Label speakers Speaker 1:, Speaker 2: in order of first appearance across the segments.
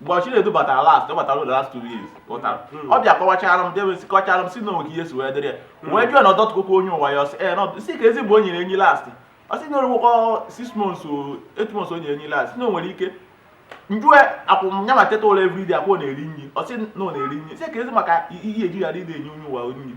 Speaker 1: mgbe Chinedu batara last ọ batara the last two years ụtara hmm. ọ bịa kọwachara m debe kọchara m sị na o nwe ka ihe si wee dịrị ya hmm. wee jụọ na ọdọtụkụkọ onye ụwa ya ọ sị ee eh, sị kezi mgbe o nyere ya nri last ọ sị na o rukwọ six months eight months o nyere ya nri last na o nwere ike m jụọ akwụm ya ma teta ụla everyday akwụ na-eri nri ọ sị na ọ na-eri nri sị kezi maka ihe e ji ghara ịna-enye onye ụwa nri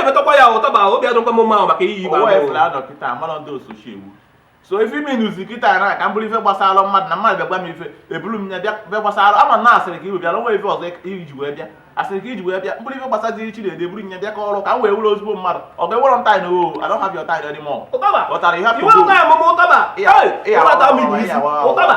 Speaker 2: emetakwa ya ụtaba ahụ obi adọkwa m mma ahụ maka iyi
Speaker 1: so ife ime nuzi kịta na ka m bụrụ ife gbasara mmadụ na mmadụ bịa gwa m ife e buru m ya bịa gbasara ama na asịrị ka i wee bịa o nwe ife ọzọ i ji wee bịa asịrị ka i ji wee bịa ma ọ bụrụ ife gbasara Chinedu buru nya bịa ka ọrụ ka m wee were ozugbo mmadụ ọ ga enwerọ m time na o I don't have your time anymore ụtaba ụtara ihe ụtaba